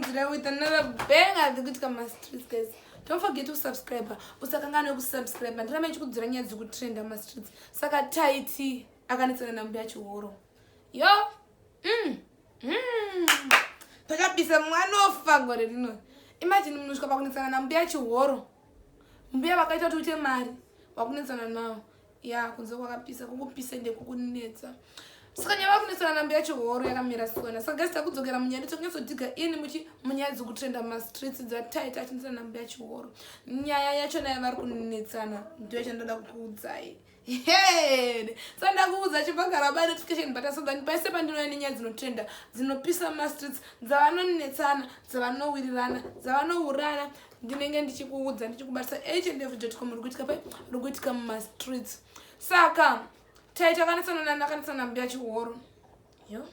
Tozounzira with another banger dzekuitika mumastreets guys. Don't forget to subscribe. Usakanganwe kusubscribe. Ndiramba ndichikudzira nyaya dziri kutrenda mumastreets. Saka Taiti akanetsana nambuya Chihoro. Yo. Mm. Mm. Takabisa mwana ofa gore rino. Imagine munhu usvika pakunetsana nambuya Chihoro. Mbuya vakaita kuti uite mari. Wakunetsana nawo. ya kunze kwakapisa kukupisa ndekukunetsa saka nyaya vakunetsana nambo yacho horo yakamira sona saka gasi takudzokera munyaya ndichonyatsodiga ini muchi munyaya dzekutrenda mastreets dzataita achinetsana nambo yacho horo nyaya yacho naye vari kunetsana ndo yachandoda kukuudzai head sa ndakuudza chibagara ba notification but asoda paise pandinouya nenyaya dzinotrenda dzinopisa mastreets dzavanonetsana dzavanowirirana dzavanourana ndinenge ndichikuudza ndichikubatisa each and every jotcom uri kuitika pai uri kuitika mumastreets saka taita akanetsana nani akanetsana nambuya chihoro yo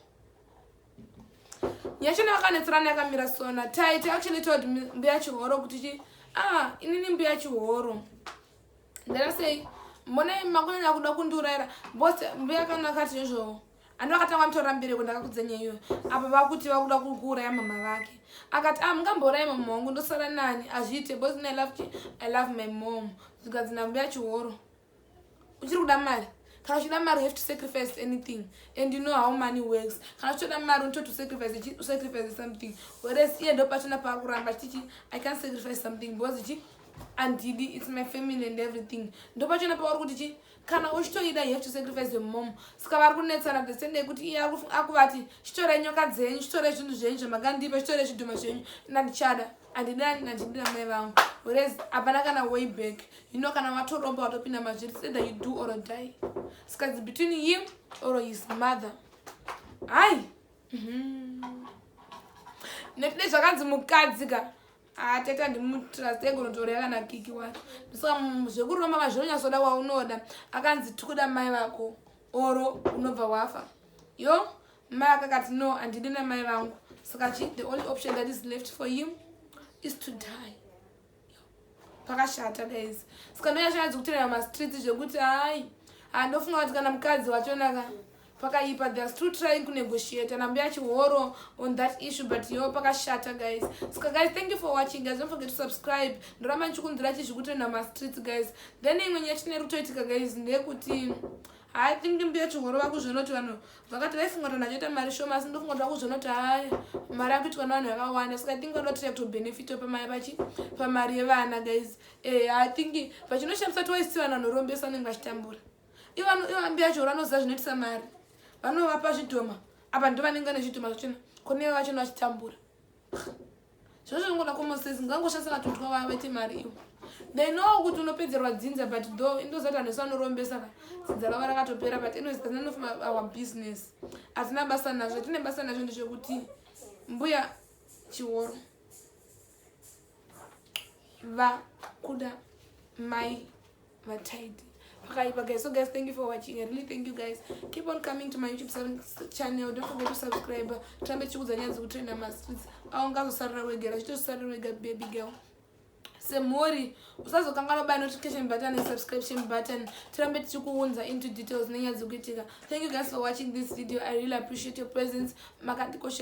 nyachona akanetserana yakamira sona taita actually told mbuya chihoro kuti chi ah inini mbuya chihoro ndana sei mbonai makunyanya kuda kundiurayira bos mbuya kana akati nezvoo ani vakati avanditorera mbereko ndakakudza nyaya iyoyo apa vakuti vakuda kuuraya mama vake akati a ah, mungambourayi mama wangu ndosara nani hazviite bos i love you i love my mom zvikanzi ndambuya chihoro uchiri kuda mari kana uchida mari have to sacrifice anything and you know how money works kana uchitoda mari unototo sacrifice sacrifice something whereas iye ndo pachona paakuramba chichi i can't sacrifice something because chi andidi its my family and everything ndo pachona pauri kuti chi kana uchitoida you have to sacrifice your mom saka vari kunetsana the same day kuti iye akuvati chitore nyoka dzenyu chitore zvinhu zvenyu zvamakandipa chitore zvidhuma zvenyu nandichada andidani nandindira mai vangu whereas hapana kana way back you know kana watoromba watopinda mazviri either you do or die saka it's between him or his mother hai mhm. nekuti nezvakanzi mukadzi ka Ah, tete handimutrust egonotorera kana kiki wacho ndosaka mm, zvekuromba mazvinonyatsoda waunoda akanzi tikuda mai vako oro unobva wafa yo mai akakati no handidi namai vangu saka chi the only option that is left for him is to die pakashata guys saka ndoyashanadzi kutorera mastreets zvekuti hai handofunga kuti kana mukadzi wachonaka pakaipa they are still trying kunegotiate and ambuya chihoro on that issue but yo pakashata guys ska guys thank you for watching guys don't forget to subscribe ndoramba ndichikunzira chizvikutenda mastreets guys then imwe nyaya chine rutoitika guys ndeyekuti i think mbuya chihoro vakuzvonoti vanhu vakati vaifunga kuti vanachoita mari shoma asi ndofunga kuti vakuzvonoti haya mari akuitwa navanhu vakawanda ska i think vanoda kutira kutobenefito pamari yevana guys eh, i think vachinoshamisa twaisi vanhu vanorombesa vanenge vachitambura ivambi yacho vanoziva zvinoitisa mari vanovapa zvidhoma apa ndo vanenge vane zvidhoma zvachona koneve vachona vachitambura zvazvo zvingoda komoses ngangoshandisa vatotwa vaya vaite mari ivo they know kuti unopedzerwa dzinza but tho indozati vanhu vese vanorombesa ka dzinza ravo rakatopera but anyways that's none of our business hatina basa nazvo tine basa nazvo ndezvekuti mbuya chiworo vakuda mai vataidi pakaipa guys so guys thank you for watching i really thank you guys keep on coming to my youtube channel don't forget to subscribe tirambe tichikudza nyaya dzekutrenda mastreets aungazosarira wega rachitosarira wega baby girl semhuri usazokanganwa by notification button and subscription button tirambe tichikuunza into details nenyaya dzekuitika thank you guys for watching this video i really appreciate your presence makandikoshera